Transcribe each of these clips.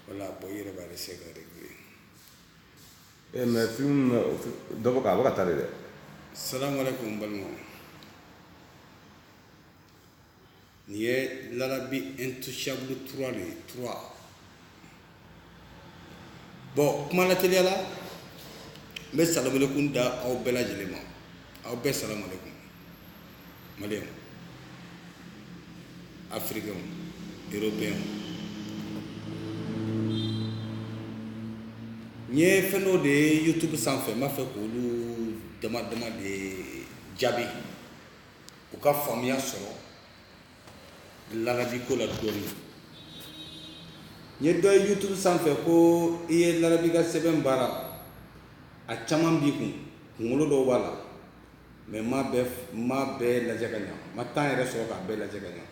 voilà bon i yɛrɛ b'a de se ka de ye ee mɛ film dɔ bɔ k'a bɔ ka taa de dɛ salamu aleykum balimaw nin ye larabi intouchable trois de ye trois bɔn kuma lateliya la n bɛ salamalekun da aw bɛɛ lajɛlen ma aw bɛɛ salamalekun maliyɛn afirikɛnw eropeyɛnw n ye fɛn dɔw de ye youtube sanfɛ n b'a fɛ k'olu dama dama de jaabi u ka faamuya sɔrɔ larabi ko la dɔɔni n ye dɔ ye youtube sanfɛ ko i ye larabi ka sɛbɛn baara a caman b'i kun kunkolo dɔw b'a la mɛ n m'a bɛɛ lajɛ ka ɲa n ma temps yɛrɛ sɔrɔ k'a bɛɛ lajɛ ka ɲa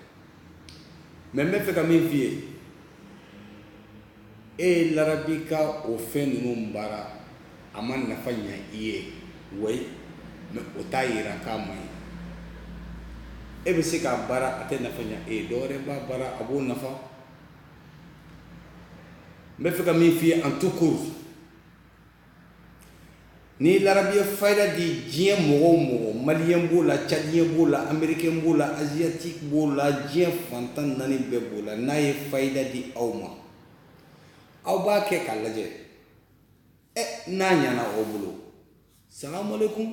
mɛ n bɛ fɛ ka min f'i ye e ye larabi ka o fɛn ninnu baara a ma nafa ɲa i ye ouais mɛ o t'a yira k'a man ɲi e bɛ se k'a baara a tɛ nafa ɲa e ye dɔwɛrɛ b'a baara a b'o nafa n bɛ fɛ ka min f'i ye en tout court Ni larabi ye fayida di diɲɛ mɔgɔw mɔgɔ maliyɛn b'o la cadiyɛn b'o la amerikɛn b'o la aziyatiki b'o la diɲɛ fan tan naani bɛɛ b'o la n'a ye fayida di aw ma aw b'a kɛ k'a lajɛ ɛ n'a ɲana aw bolo salamu aleykum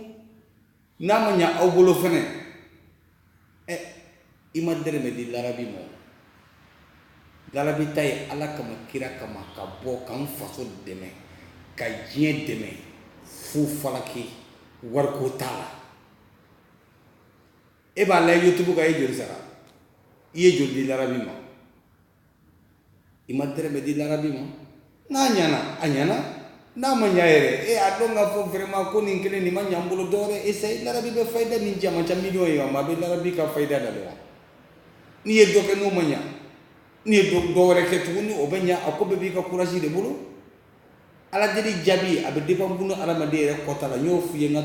n'a ma ɲa aw bolo fɛnɛ ɛ i ma dɛrɛmɛ di larabi ma larabi ta ye ala kama kira kama ka bɔ k'an faso dɛmɛ ka diɲɛ dɛmɛ fu falaki wariko t'a la e b'a lajɛ youtube kan e ye joli sara i ye joli di larabi ma i ma dɛrɛmɛ di larabi ma n'a ɲana a ɲana n'a ma ɲa yɛrɛ e a dɔn k'a fɔ vraiment ko nin kelen nin ma ɲa n bolo dɔwɛrɛ essaye larabi bɛ fayida ni jama ca miliyɔn ye ma a bɛ larabi ka fayida da wa n'i ye dɔ kɛ n'o ma ɲa n'i ye dɔ wɛrɛ kɛ tuguni o bɛ ɲa a ko bɛɛ b'i ka courage de bolo Ala deli jaabi a bɛ dépend bunadamaden yɛrɛ kɔta la n y'o f'i ye n ka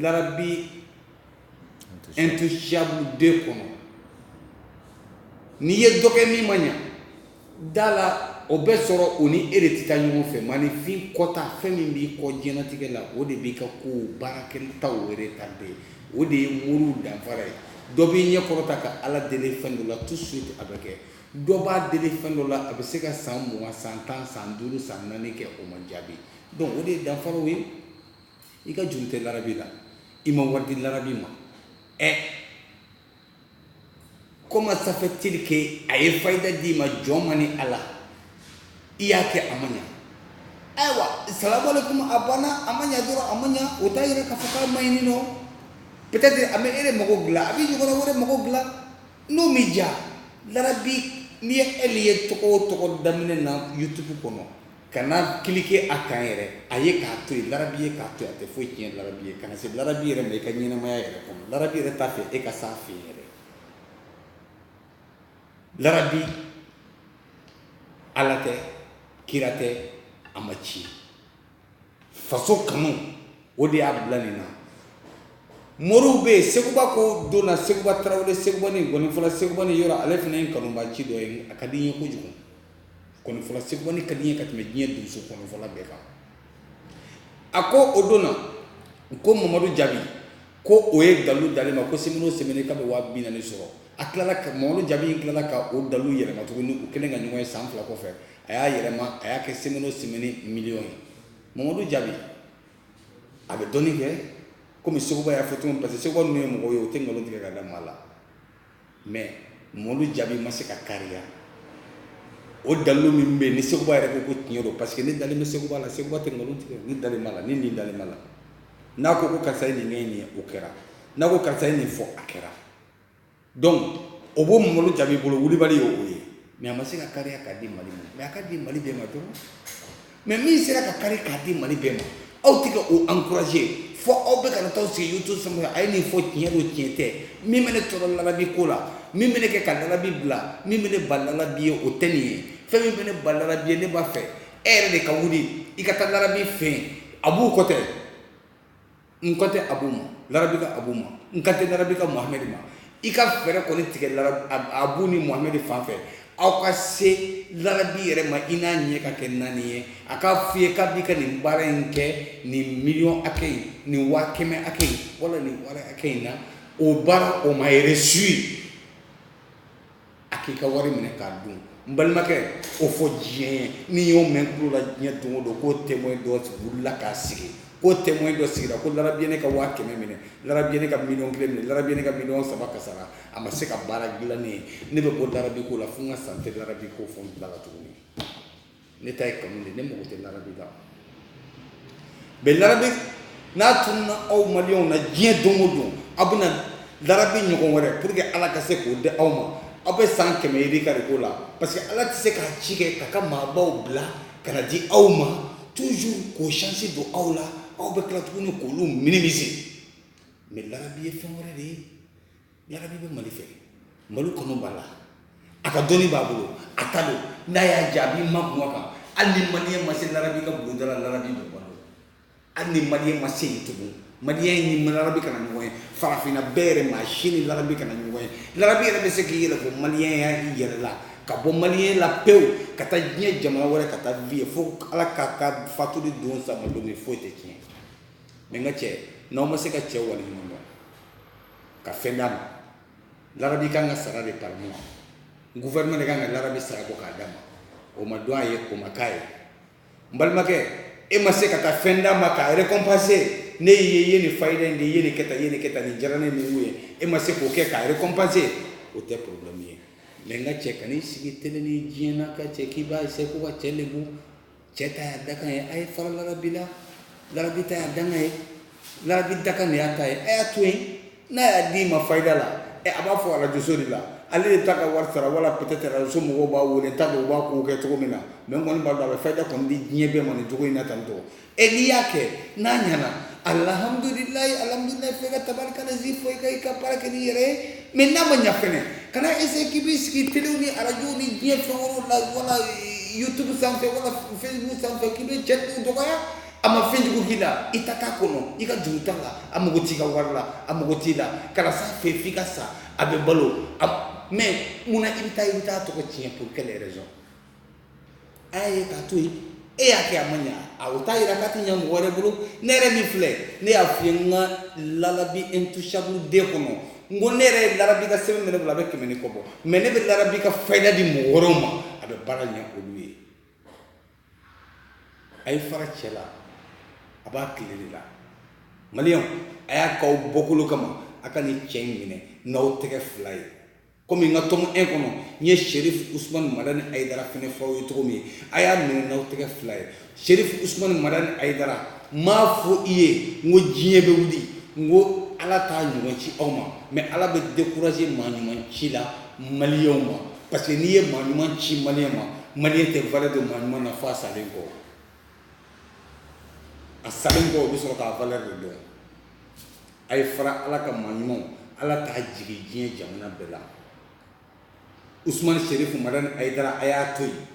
larabi intouchable deux kɔnɔ n'i ye dɔ kɛ min ma ɲa da la o bɛ sɔrɔ o ni e de tɛ taa ɲɔgɔn fɛ maaninfin kɔta fɛn min b'i kɔ diɲɛnatigɛ la o de b'i ka ko baarakɛtaw retarder o de ye moriw danfara ye dɔ b'i ɲɛ kɔrɔta ka ala deli fɛn dɔ la tout de suite a bɛ kɛ Dɔ b'a deli fɛn dɔ la a bɛ se ka san mugan san tan san duuru san naani kɛ o ma jaabi donc o de ye danfaraw ye i ka juru tɛ larabi la i ma wari di larabi ma ɛ comment ça fait-il que a ye fayida d'i ma jɔn ma ni ala i y'a kɛ a ma ɲɛ ayiwa salamu alaikum a banna a ma ɲɛ dɔrɔn a ma ɲɛ o t'a yira k'a fɔ k'a m'a ɲini non peut-être a bɛ e mago dilan a bɛ ɲɔgɔnna wɛrɛ mago dilan N'o m'i ja larabi n'i ye ɛli ye tɔgɔ o tɔgɔ daminɛ na YouTube kɔnɔ kana cliquer a kan yɛrɛ a ye k'a to yen larabi ye k'a to yen a tɛ foyi tiɲɛ larabi ye kana se larabi yɛrɛ ma i ka ɲɛnamaya yɛrɛ kɔnɔ larabi yɛrɛ t'a fɛ e ka s'a fɛ yɛrɛ larabi ala tɛ kira tɛ a ma ci faso kanu o de y'a bila nin na moriw bɛ yen seguba ko don na seguba tarawele segubani gɔnifɔla segubani yɔrɔ ale fana ye kanubaaci dɔ ye a ka di n ye kojugu gɔnifɔla segubani ka di n ye ka tɛmɛ diɲɛ donso gɔnifɔla bɛɛ kan a ko o don na ko mamadu jaabi ko o ye dalu d'ale ma ko semaine o semaine k'a bɛ waa bi naani sɔrɔ a tilala ka mamadu jaabi in tilala ka o dalu yɛlɛma tuguni u kɛlen ka ɲɔgɔn ye san fila kɔfɛ a y'a yɛlɛma a y'a kɛ semaine o semaine miliyɔn ye mamadu jaabi a bɛ dɔnni kɛ kɔmi seguba y'a fɔ cogo min parce que seguba ninnu ye mɔgɔw ye o tɛ nkalon tigɛ ka da maa la mɛ mamadu jaabi ma se ka kariya o dalu min bɛ yen ni seguba yɛrɛ ko ko tiɲɛ don parce que ne dalen bɛ seguba la seguba tɛ nkalon tigɛ ne dalen b'a la ne nin dalen b'a la n'a ko ko karisa ye nin kɛ nin ye o kɛra n'a ko karisa ye nin fɔ a kɛra donc o b'o mamadu jaabi bolo wulibali y'o ye mɛ a ma se ka kariya k'a di mali ma mɛ a ka di mali bɛɛ ma dɔrɔn mɛ min sera ka kari k'a di mali bɛɛ ma aw tɛ ka o ankuraze fo aw bɛ ka na taa sigi YouTube sanfɛ a ye nin fɔ tiɲɛ don tiɲɛ tɛ min bɛ ne tɔɔrɔ larabi ko la min bɛ ne kɛ ka larabi bila min bɛ ne ba larabi ye o tɛ nin ye fɛn min bɛ ne ba larabi ye ne b'a fɛ e yɛrɛ de ka wuli i ka taa larabi fɛ abu ko tɛ n kan tɛ abu ma larabi ka abu ma n kan tɛ larabi ka muhamɛdi ma i ka fɛɛrɛ kɔni tigɛ abu ni muhamɛdi fan fɛ aw ka se larabi yɛrɛ ma i n'a ɲɛ ka kɛ naani ye a k'a f'i ye k'a b'i ka nin baara in kɛ nin miliyɔn hakɛ in nin waa kɛmɛ hakɛ in wala nin wari hakɛ in na o baara o ma réussi a k'i ka wari minɛ k'a dun n balimakɛ o fɔ diɲɛ ye n'i y'o mɛn tulo la diɲɛ don o don ko témoin dɔ wulila k'a sigi ko témoin dɔ sigira ko larabi ye ne ka waa kɛmɛ minɛ larabi ye ne ka miliyɔn kelen minɛ larabi ye ne ka miliyɔn saba kasara a ma se ka baara dilan ne ye ne bɛ bɔ larabi ko la fo n ka sa n tɛ larabi ko fɔ n bila tuguni ne ta ye kanu de ne mago tɛ larabi la mais larabi n'a tununna aw maliyɛnw na diɲɛ don o don aw bɛna larabi ɲɔgɔn wɛrɛ pour que ala ka se k'o di aw ma aw bɛ san kɛmɛ yirika de ko la parce que ala tɛ se k'a ci kɛ k'a ka maabaw bila ka na di aw ma toujours k'o chance don aw la aw bɛ tila tuguni k'olu minimiser mais larabi ye fɛn wɛrɛ de ye larabi bɛ mali fɛ mali kɔnɔ b'a la a ka dɔnni b'a bolo a ta don n'a y'a jaabi ma kuma kan hali ni maliyɛn ma se larabi ka bulonda la larabi bɛ balo hali ni maliyɛn ma se yen tugun maliyɛn ni larabi kana ɲɔgɔn ye farafinna bɛɛ yɛrɛ maa si ni larabi kana ɲɔgɔn ye larabi yɛrɛ bɛ se k'i yɛrɛ bɔ maliyɛnya yɛrɛ la ka bɔ maliyɛnya la pewu ka taa diɲɛ jamana wɛrɛ ka taa vie fo ala k'a ka fatu don sa don foyi tɛ tiɲɛ n ka cɛ n'aw ma se ka cɛ waleɲuman ka fɛn d'a ma larabi ka kan ka sara de par mois gouvernement de ka kan ka larabi sara bɔ k'a d'a ma o ma dɔn a ye o ma k'a ye n balimakɛ e ma se ka taa fɛn d'a ma k'a récompenser ne y'i ye i ye nin fayida in di i ye nin kɛ tan i ye nin kɛ tan nin diyara ne ni mun ye e ma se k'o kɛ k'a récompenser o tɛ problème ye mais n ka cɛ kan'i sigi tele ni diɲɛ na ka cɛ k'i b'a essayer ko ka cɛ lebu Cɛ ta y'a dakan ye a ye fara larabi la larabi ta y'a dakan ye larabi dakan de y'a ta ye a y'a to yen n'a y'a d'i ma fayida la ɛ a b'a fɔ arajoso de la ale de ta ka wari sara wala peut-être arajoso mɔgɔw b'a wele n t'a dɔn u b'a kow kɛ cogo min na mais n kɔni b'a dɔn a bɛ fayida kɔni di diɲɛ bɛɛ ma nin cogo in na tan tɔ e n'i y'a kɛ n'a ɲɛna alhamdulilayi alhamdulilayi fo i ka tabarikala zi fɔ i ka i ka baara kɛ n'i yɛrɛ ye mais n'a ma ɲa fɛnɛ kana essayer k'i b'i sigi telew ni arajow ni diɲɛ fɛn wɛrɛw la wala eh, youtube sanfɛ wala facebook sanfɛ k'i bɛ cɛ tɔgɔ dɔgɔya a ma fɛn jugu k'i la i ta t'a kɔnɔ i ka juru t'a la a mago t'i ka wari la a mago t'i la kana s'a fɛ f'i ka sa a bɛ balo mais mun na i bɛ taa i bɛ t'a tɔgɔ tiɲɛ pour quelle raison A y'a ye k'a to yen e y'a kɛ a ma ɲɛ a o t'a jira k'a tɛ ɲɛ mɔgɔ wɛrɛ bolo ne yɛrɛ min filɛ ne y'a f'i ye n ka larabi intouchable de kɔnɔ n ko ne yɛrɛ ye larabi ka sɛbɛn minɛ bila a bɛ kɛmɛ ni kɔ bɔ mais ne bɛ larabi ka fayida di mɔgɔ wɛrɛw ma a bɛ baara ɲɛ olu ye a ye fara cɛ la a b'a tile de la maliyɛnw a y'a k'aw bɔkolo kama a ka nin cɛ in minɛ n'aw tɛgɛ fila ye Kɔmi n ka tome un kɔnɔ n ye serif usmani madani ayidara fɛnɛ fɔ aw ye cogo min a y'a minɛ n'aw tɛgɛ fila ye serif usmani madani ayidara n m'a fɔ i ye n ko diɲɛ bɛ wuli n ko ala t'a ɲɔgɔn ci aw ma mais ala bɛ décourager maa ɲuman ci la maliyɛnw ma parce que n'i ye maa ɲuman ci maliyɛn ma maliyɛn tɛ valeur don maa ɲuman na f'a salen kɔ a salen kɔ o bɛ sɔrɔ k'a valeur de dɔn A ye fara ala ka maa ɲumanw ala k'a jigin diɲɛ jamana bɛɛ la usumani serifu madani ayidara a y'a to yen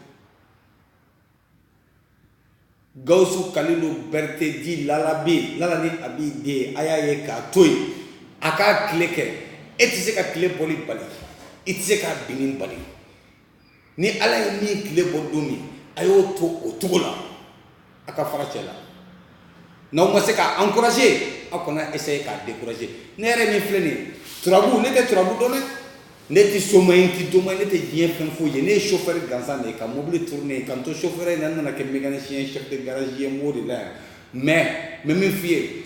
gawusu kalilu berete di lalabi lala ni abi den a y'a ye k'a to yen a k'a tile kɛ e tɛ se k'a tile bɔli bali i tɛ se k'a binni bali ni ala ye min tile bɔ don min a y'o to o cogo la a ka fara cɛ la n'aw ma se k'a encourager aw kana essayer k'a décourager ne yɛrɛ min filɛ nin turabu ne tɛ turabu dɔn dɛ ne tɛ soma ye n tɛ doma ye ne tɛ diɲɛ fɛn foyi ye ne ye sofɛri gansan de ye ka mobili tourner ka n to sofɛri in na n nana kɛ mécanicien chef de garage ye n b'o de la yan mais n bɛ min f'i ye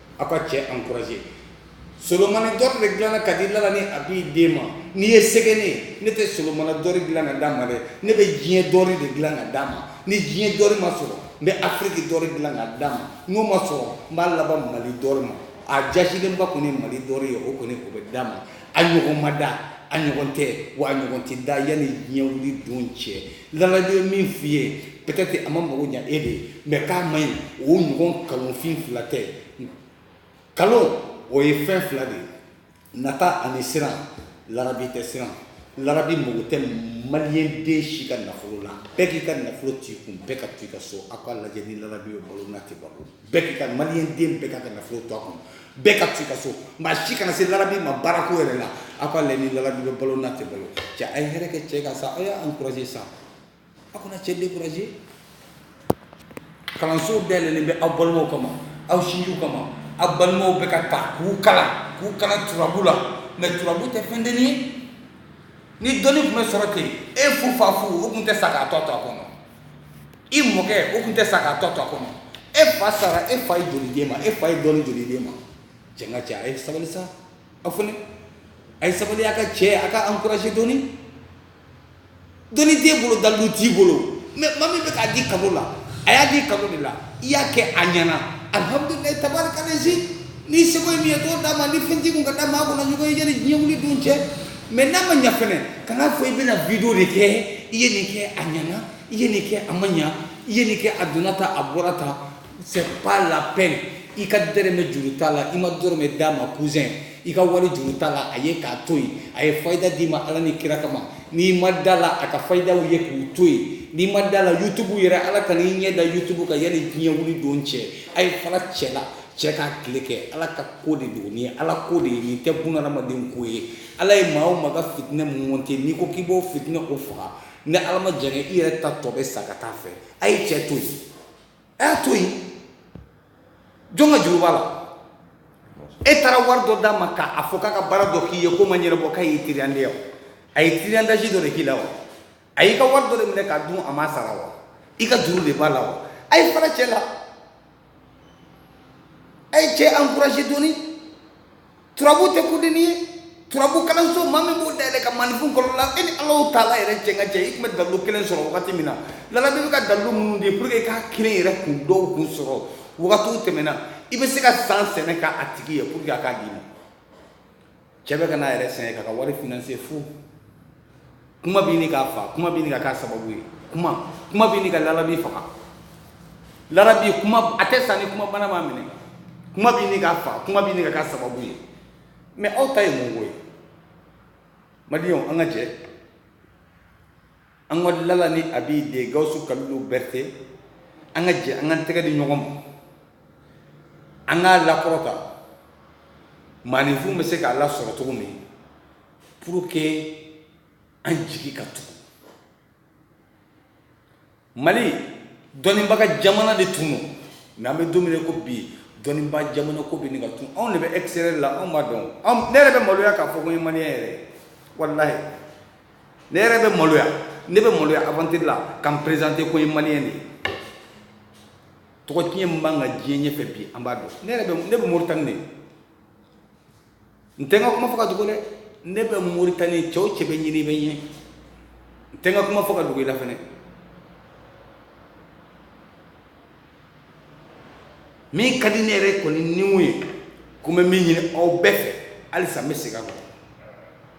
aw ka cɛ encourager solomani d'or de dilanna ka di lala ni abi den ma n'i ye sɛgɛn ne ne tɛ solomani d'or dilan ka d'a ma dɛ ne bɛ diɲɛ d'or de dilan ka d'a ma ni diɲɛ d'or ma sɔrɔ n bɛ afiriki d'or dilan ka d'a ma n'o ma sɔrɔ n b'a laban mali d'or ma a jasilenba kɔni mali d'or ye o kɔni o bɛ d'a ma a ɲɔgɔn ma da a ɲɔgɔn tɛ wa a ɲɔgɔn tɛ da yanni diɲɛ wuli don cɛ lalabi ye min f'i ye peut-être a ma mago ɲa e de ye mais k'a man ɲi o ɲɔgɔn kalonfin fila tɛ kalon o ye fɛn fila de ye nata ani siran lalabi tɛ siran lalabi mago tɛ maliyɛn den si ka nafolo la bɛɛ k'i ka nafolo t'i kun bɛɛ ka to i ka so aw k'a lajɛ ni lalabi bɛ balo n'a tɛ balo bɛɛ ka maliyɛn den bɛɛ k'a ka nafolo to a kun bɛɛ ka t'i ka so maa si kana se lalabi ma baarako yɛrɛ la a k'a lajɛ ni lalabi bɛ balo n'a tɛ balo cɛ a ye hɛrɛ kɛ cɛ kan sa a y'a encouragé sa a kana cɛ découragé kalanso dayɛlɛlen bɛ aw balimaw kama aw sinjiw kama aw balimaw bɛ ka taa k'u kalan k'u kalan turabu la mais turabu tɛ fɛn denni ye ni dɔnni tun bɛ sɔrɔ ten e fu fa fu o tun tɛ sa k'a tɔ to a kɔnɔ i mɔkɛ o tun tɛ sa k'a tɔ to a kɔnɔ e fa sara e fa ye joli d'e ma e fa ye dɔnni joli d'e ma cɛ ka cɛ a ye sabali sa aw fɛnɛ a ye sabali a ka cɛ a k'a encourager dɔɔni dɔnni t'e bolo dalilu t'i bolo mais maa min bɛ k'a di kado la a y'a di kado de la i y'a kɛ a ɲɛna alhamdulilayi tabarikalazi n'i seko ye min ye t'o d'a ma ni fɛn t'i kun ka d'a ma a kana ɲɔgɔn ye yanni diɲɛ wuli don cɛ Mais n'a ma ɲa fɛnɛ kan'a fɔ i bɛna vidéo de kɛ i ye nin kɛ a ɲana i ye nin kɛ a ma ɲa i ye nin kɛ a donna tan a bɔra tan c'est pas la peine i ka dɔrɔmɛ juru t'a la i ma dɔrɔmɛ d'a ma cousin i ka wari juru t'a la a ye k'a to yen a ye fayida d'i ma ala ni kira kama n'i ma da la a ka fayidaw ye k'u to yen n'i ma da la yutubu yɛrɛ ala kan'i ɲɛ da yutubu kan yanni diɲɛ wuli don cɛ a ye fara cɛ la cɛ k'a tile kɛ ala ka ko de don nin ye ala ko de ye nin tɛ bunadamaden ko ye ala ye maa o maa ka fitinɛ monte n'i ko k'i b'o fitinɛ o faga ni ala ma jɛngɛ i yɛrɛ ta tɔ bɛ sa ka taa fɛ a ye cɛ to yen a y'a to yen jɔn ka juru b'a la e taara wari dɔ d'a ma k'a fɔ k'a ka baara dɔ k'i ye ko ma ɲɛnabɔ k'a y'i tiriyande wa a ye tiriyandaji dɔ de k'i la wa a y'i ka wari dɔ de minɛ k'a dun a ma sara wa i ka juru de b'a la wa a ye fara cɛ la a ye cɛ ankuraze dɔɔni turabu tɛ ko dennin ye turabu kalanso maa min b'o dayɛlɛ ka maaninfin kɔrɔ la e ni alahu taala yɛrɛ cɛ ka cɛ i tun bɛ dalu kelen sɔrɔ wagati min na lalabi bɛ ka dalu minnu di pour que i k'a kelen yɛrɛ kun dɔw kun sɔrɔ wagatiw tɛmɛna i bɛ se ka san sɛnɛ k'a tigi ye pour que a k'a d'i ma cɛ bɛ ka n'a yɛrɛ sɛgɛn k'a ka wari finanse fo kuma bɛ ɲini k'a fa kuma bɛ ɲini ka k'a sababu ye kuma kuma bɛ ɲini ka lalabi faga lalabi kuma a tɛ sa ni kuma bana b'a minɛ kuma bɛ ɲini k'a fa kuma bɛ ɲini ka k'a sababu ye mais aw ta ye mun ko ye maliyɛnw an ka jɛ an ka lala ni abi den gawusu kalilu berete an ka jɛ an ka tɛgɛ di ɲɔgɔn ma an k'a lakɔrɔta maaninfin bɛ se k'a lasɔrɔ cogo min pour que an jigi ka tugu mali dɔnnibaga jamana de tun don n'an bɛ don min ko bi dɔnnibaa jamana ko bɛ nin ka tun anw de bɛ extérieur la anw b'a dɔn ne yɛrɛ bɛ maloya k'a fɔ ko n ye maliyɛn yɛrɛ ye walahi ne yɛrɛ bɛ maloya ne bɛ maloya aventure la ka n présenter ko n ye maliyɛn de ye tɔgɔ tiɲɛ min b'an kan diɲɛ ɲɛfɛ bi an b'a dɔn ne yɛrɛ bɛ ne bɛ moritani de n tɛ n ka kuma fɔ ka dogo dɛ ne bɛ moritani cɛ o cɛ bɛ n ɲini i bɛ n ye n tɛ n ka kuma fɔ ka dogo i la fɛn min ka di ne yɛrɛ kɔni ni mun ye ko n bɛ min ɲini aw bɛɛ fɛ halisa n bɛ segin a kan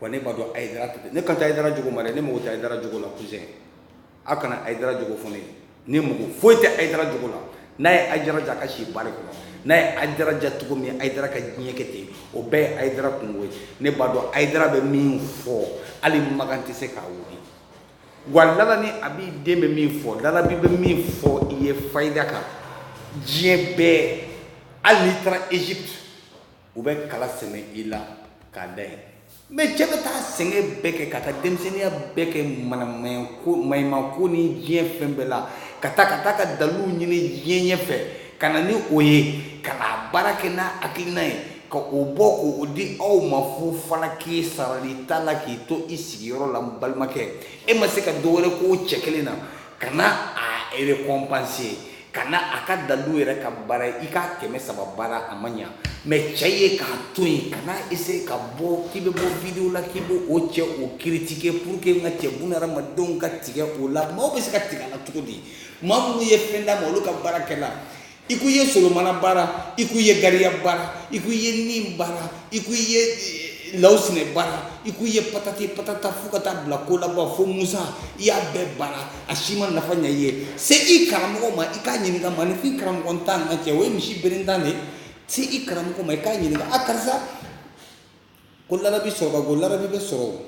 Wa ne b'a dɔn hayidara ne kan tɛ hayidara jogo ma dɛ ne mako tɛ hayidara jogo la kuzɛn aw kana hayidara jogo fɔ ne ye ne mako foyi tɛ hayidara jogo la n'a ye hayidara diya a ka si bari kɔnɔ n'a ye hayidara diya cogo min hayidara ka diɲɛ kɛ ten o bɛɛ ye hayidara kunko ye ne b'a dɔn hayidara bɛ min fɔ hali makan tɛ se k'a wuli wa lala ni abi den bɛ min fɔ lalabi bɛ min fɔ i ye fayida kan diɲɛ bɛɛ hali n'i taara ezipti u bɛ kala sɛmɛ i la k'a da yen mais cɛ bɛ taa sɛgɛn bɛɛ kɛ ka taa denmisɛnninya bɛɛ kɛ maɲumako ni diɲɛ fɛn bɛɛ la ka taa ka taa ka dalilu ɲini diɲɛ ɲɛ fɛ ka na ni o ye ka na baara kɛ n'a hakilina ye ka o bɔ k'o di aw ma fu fana k'i sarali t'a la k'i to i sigiyɔrɔ la balimakɛ e ma se ka dɔ wɛrɛ k'o cɛ kelen na ka na a récompenser ka na a ka dalilu yɛrɛ ka baara ye i k'a kɛmɛ saba baara a ma ɲa mais cɛ ye k'a to yen kana essayer ka bɔ k'i bɛ bɔ video la k'i b'o o cɛ o critiquer pour que n ka cɛ buna hadamadenw ka tigɛ o la maaw bɛ se ka tigɛ a la cogo di maa minnu ye fɛn d'a ma olu ka baara kɛla i ko i ye solomana baara i ko i ye gariya baara i ko i ye nin baara i ko i ye lawusinɛ baara i ko i ye patati patata fo ka taa bila ko laban fo musa i y'a bɛɛ baara a si ma nafa ɲɛ i ye se i karamɔgɔ ma i k'a ɲininka maaninfin karamɔgɔntan n ka cɛ o ye misi berentan de ye se i karamɔgɔ ma i k'a ɲininka a karisa ko larabi sɔrɔba ko larabi bɛ sɔrɔ o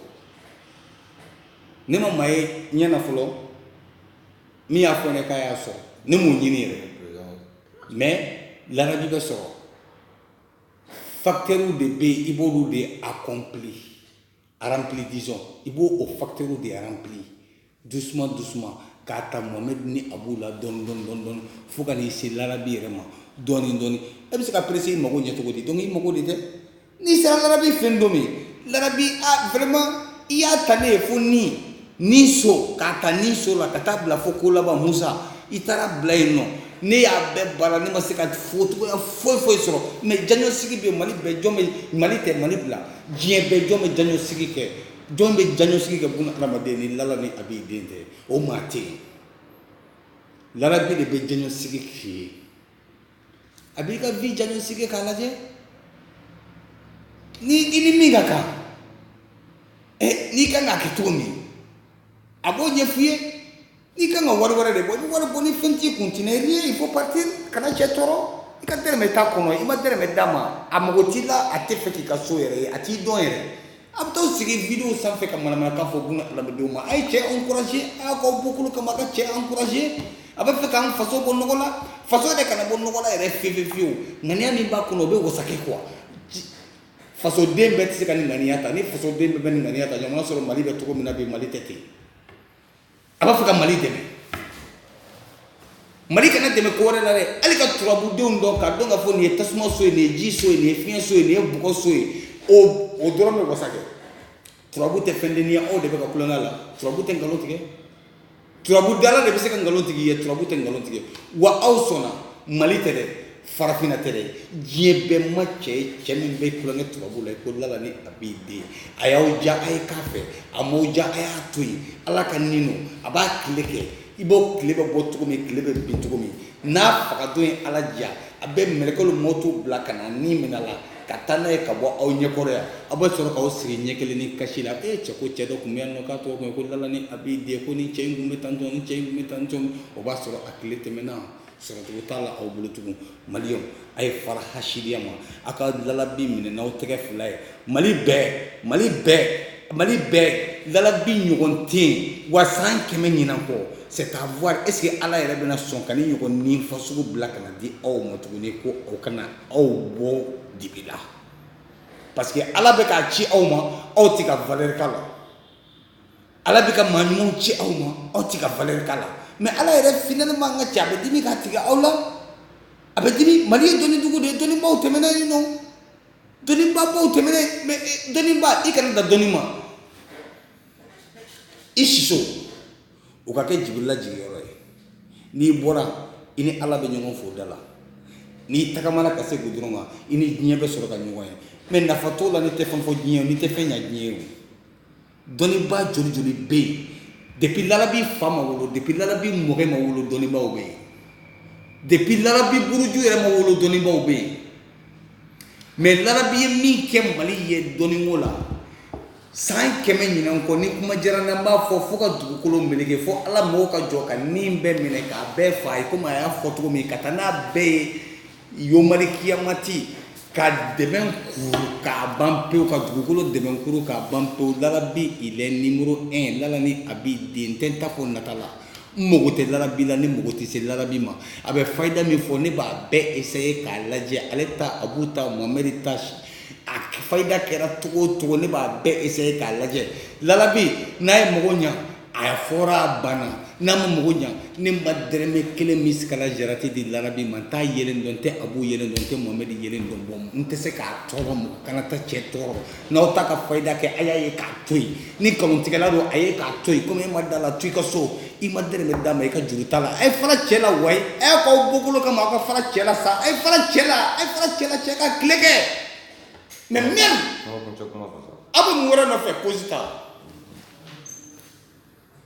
ne ma maa ye ɲɛ na fɔlɔ min y'a fɔ ne k'a y'a sɔrɔ ne m'o ɲini yɛrɛ mais larabi bɛ sɔrɔ facteurs de bɛ yen i b'olu de accompli a rempli disons i b'o o facteurs de rempli doucement doucement k'a ta Mohamed ni Abu la dɔɔni dɔɔni dɔɔni dɔɔni fo ka n'i se larabi yɛrɛ ma dɔɔni dɔɔni e bɛ se ka presser i mago ɲɛ cogo di donc i mago de tɛ n'i sera larabi fɛ don min larabi vraiment i y'a ta ne ye fo ni ni so k'a ta ni so la ka taa bila fo ko laban musa i taara bila yen nɔ ne y'a bɛɛ baara ne ma se ka focogoya foyi foyi sɔrɔ mais diagnostic bɛ mali bɛɛ jɔn bɛ mali tɛ mali bila diɲɛ bɛɛ jɔn bɛ diagnostic kɛ jɔn bɛ diagnostic kɛ buna adamaden ni lala ni a b'i den tɛ o maa tɛ yen larabi de bɛ diagnostic k'i ye A b'i ka vie diagnostiquer k'a lajɛ ni i ni min ka kan n'i ka kan k'a kɛ cogo min a b'o ɲɛf'i ye n'i ka kan ka wari wɛrɛ de bɔ i bɛ wari bɔ ni fɛn t'i kun tu n'as rien il faut partir kana cɛ tɔɔrɔ i ka dɔrɔmɛ t'a kɔnɔ i ma dɔrɔmɛ d'a ma a mago t'i la a tɛ fɛ k'i ka so yɛrɛ ye a t'i dɔn yɛrɛ A bɛ taa sigi video sanfɛ ka manamanakan fɔ buna adamadenw ma. A ye cɛ encourager a y'a k'aw bɔkolo kama a ka cɛ encourager a bɛ fɛ k'an faso bɔ nɔgɔ la, faso yɛrɛ kana bɔ nɔgɔ la yɛrɛ fiye fiye fiyewu. Ŋaniya min b'a kɔnɔ o bɛ wasa kɛ quoi fasoden bɛɛ tɛ se ka nin ŋaniya ta, ni fasoden bɛɛ bɛ nin ŋaniya ta jamana sɔrɔ Mali bɛ cogo min na bi Mali tɛ ten. a b'a fɛ ka mali dɛmɛ mali kana dɛmɛ ko wɛrɛ la dɛ hali ka turabudenw dɔn k'a dɔn k'a fɔ nin ye tasuma so ye nin ye ji so ye nin ye fiɲɛ so ye nin ye bɔgɔ so ye o dɔrɔn bɛ wasa kɛ turabu tɛ fɛn denniya aw de bɛ ka kulonkɛ la turabu tɛ nkalon tigɛ turabu dala de bɛ se ka nkalon tigɛ i ye turabu tɛ nkalon tigɛ wa aw sɔnna mali tɛ dɛ farafinna tɛ dɛ diɲɛ bɛɛ ma cɛ ye cɛ min bɛ tulonkɛ turabu la ko lala ni abi den a y'aw diya a ye k'a fɛ a m'aw diya a y'a to yen ala ka nin don a b'a tile kɛ i b'o tile bɛ bɔ cogo min tile bɛ bin cogo min n'a fagadon ye ala diya a bɛ mɛlɛkɛlu mɔtu bila ka na ni minɛ a la ka taa n'a ye ka bɔ aw ɲɛkɔrɔ yan aw bɛ sɔrɔ k'aw sigi ɲɛ kelen ni kasi la e cɛ ko cɛ dɔ tun bɛ yan nɔ k'a tɔgɔ tun ko lala ni abi den ko ni cɛ in tun bɛ tan ni cɛ in tun bɛ tan o b'a sɔrɔ a tile tɛmɛna Sɔrɔcogo t'a la aw bolo tugun maliyɛnw a ye fara hasidiya ma aw ka lalabi minɛ n'aw tɛgɛ fila ye mali bɛɛ mali bɛɛ mali bɛɛ lalabi ɲɔgɔn tɛ yen wa san kɛmɛ ɲinan kɔ c'est à voir est-ce que ala yɛrɛ bɛna sɔn ka nin ɲɔgɔn nin fasugu bila ka n'a di aw ma tuguni ko o ka na aw bɔ dibi la parce que ala bɛ k'a ci aw ma aw tɛ ka valeur k'a la Ala bɛ ka maa ɲumanw ci aw ma aw tɛ ka valeur k'a la mais Ala yɛrɛ finalement an ka cɛ a bɛ dimi k'a tigɛ aw la a bɛ dimi Mali ye dɔnni dugu de ye dɔnnibaaw tɛmɛna yen nɔ dɔnnibabaw tɛmɛna yen mais eh, dɔnnibaa i kana dan dɔnni ma i siso o ka kɛ jibirila jigiyɔrɔ ye n'i bɔra i ni Ala bɛ ɲɔgɔn fo da la n'i tagamana ka se gudɔrɔn kan i ni diɲɛ bɛ sɔrɔ ka ɲɔgɔn ye mais nafa t'o la n'i tɛ fɛn fɔ diɲɛ ye n'i tɛ fɛn ɲa diɲɛ ye o dɔnnibaa joli joli bɛ yen depi lalabi fa ma wolo depi lalabi mɔkɛ ma wolo dɔnnibaaw bɛ yen depi lalabi buruju yɛrɛ ma wolo dɔnnibaaw bɛ yen mɛ lalabi ye min kɛ mali ye dɔnniko la san kɛmɛ ɲinan kɔ ni kuma diyara n na n b'a fɔ fo ka dugukolo meleke fo ala mago ka jɔ ka nin bɛɛ minɛ k'a bɛɛ fa a ye komi a y'a fɔ cogo min ka taa n'a bɛɛ ye yomari kiyamati ka dɛmɛ kuru k'a ban pewu ka dugukolo dɛmɛ kuru k'a ban pewu lalabi il est numéro un lala ni abi den tɛ n t'a fɔ nata la n mago tɛ lalabi la ne mago tɛ se lalabi ma a bɛ fayida min fɔ ne b'a bɛɛ essayer k'a lajɛ ale ta abu ta mohamɛdi ta a fayida kɛra cogo o cogo ne b'a bɛɛ essayer k'a lajɛ lalabi n'a ye mago ɲa a fɔra a banna n'a ma mago ɲa ne ma dɛrɛmɛ kelen misikala jarati di lalabi ma n t'a yelen dɔn n tɛ abu yelen dɔn n tɛ mohamɛdi yelen dɔn bɔn n tɛ se k'a tɔɔrɔ mɔgɔ kana taa cɛ tɔɔrɔ n'aw t'a ka fayida kɛ a y'a ye k'a to yen ni nkalontigɛla don a ye k'a to yen komi e ma da la to i ka so i ma dɛrɛmɛ d'a ma i ka juru t'a la a ye fara cɛ la wayi a y'a k'aw bɔkolo kama aw ka fara cɛ la sa a ye fara cɛ la a ye fara cɛ la cɛ ka tile kɛ mais même aw bɛ mun wɛrɛ nɔfɛ kosi ta